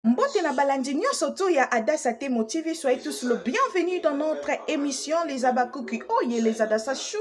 Mbote na balandi nyonso tu ya Adassa Temo TV, soyez tous le bienvenue dans notre émission Les Abakuki Oye, les Adassa Chou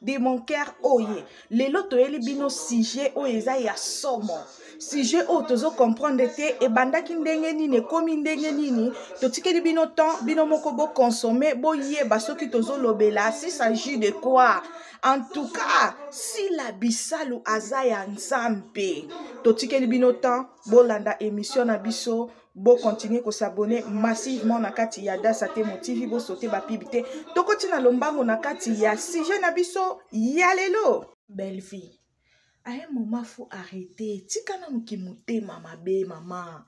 de mon cœur Oye. Lelo toyeli bino sujet oyo eza ya somo. Sujet oyo tozo comprendre te ebandaki ndenge nini ekomi ndenge nini totikeli bino temps bino moko bo consommer boyeba soki tozo lobela si s'agit de quoi en tout cas sila bisalu aza ya nzambe totikeli bino temps bolanda emission na biso bo continuer ko s'abonner massivement na kati ya Dasa Temo TV bo sauter ba pub te tokoti na lombango na kati ya sujet na biso ya lelo belle vie à un moment faut arrêter tika nanu kimotema mabe mama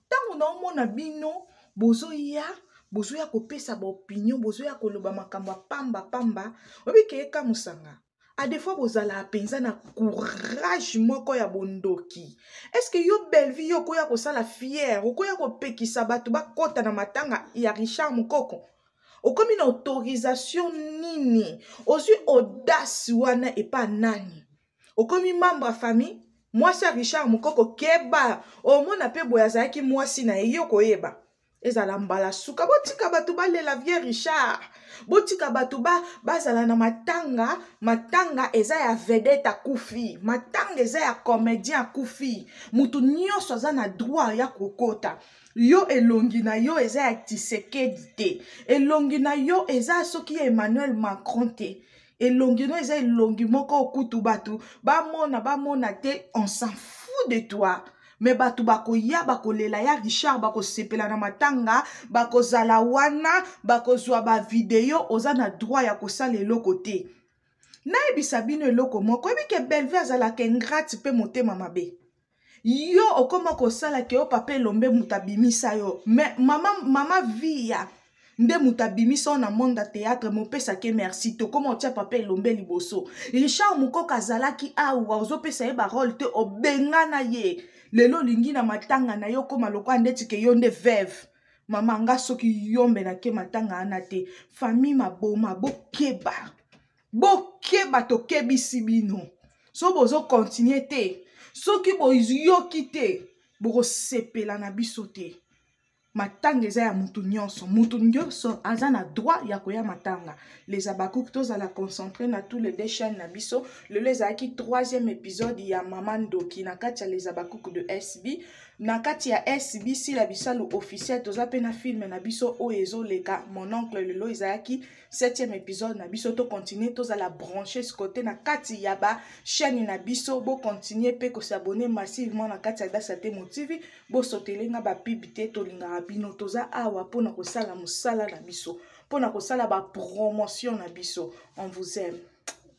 ntango naomona bino bozoya bozoya kopesa baopinion bozoya koloba makambo ya pamba pamba oyebi keye kamusanga a des fois bozalaka mpenza na courage moko ya bondoki estce yo bellevie yo okoya kosala fiere okoya kopekisa bato bakɔta na matanga ya richard mokoko okomi na autorisation nini ozwi audace wana epa nani okomi membre ya famille mwasi ya richard mokoko keba omona mpe boye azalaki mwasi na ye yo koyeba ezala mbala suka botika bato balela vie richard botika bato ba, bazala na matanga matanga eza ya vedete akufi matanga eza ya comédien akufi moto nyonso aza na droit ya kokota yo elongi na yo eza ya tisekedi te elongi na yo eza soki ya emmanuel macron te elongi no eza elongi moko okutu bato bamona bamona te on s'en fout de toi me bato bakoya bakolela ya richard bakosepela na matanga bakozala wana bakozwa bavideo oza na droit ya kosala eloko te nayebisa bino eloko moko oyebi ke belve azalaka ingrate mpe motema mabe yo okoma kosala ke yo papa elombe moto abimisa yo mais mama, mama viya nde moto abimisa yo na monde ya théâtre mopesa ke merci te okoma otya papa elombe liboso richard mokoka azalaki awa ozopesa ye barole te obengana ye lelo olingi na matanga na yo okoma lokola ndeti ke yo nde veve mama nga soki yombe nake matanga wana te famille maboma bokeba bokeba tokebisi bino so bozokontinue te soki boyoki te bokosepela na biso te matanga eza ya mutu nyonso mutu nyonso aza na droit ya koya matanga les abakouk tozala concentre na tous les deux chaîne na biso lelo ezalaki troisième épisode ya mama ndoki na kati ya les abakouk de sb na kati ya sb sila bisalu officiel toza mpe na filme na biso oyo ezoleka mon oncle lelo ezalaki septième épisode na biso to continue tozala branche sikote na kati ya ba chaîne na biso bo continue mpe kosabone massivement na kati ya dasa te motivi bosotele nga bapibi te tolingaka bino toza awa mpo na kosala mosala na biso mpo na kosala bapromotion na biso on vous aime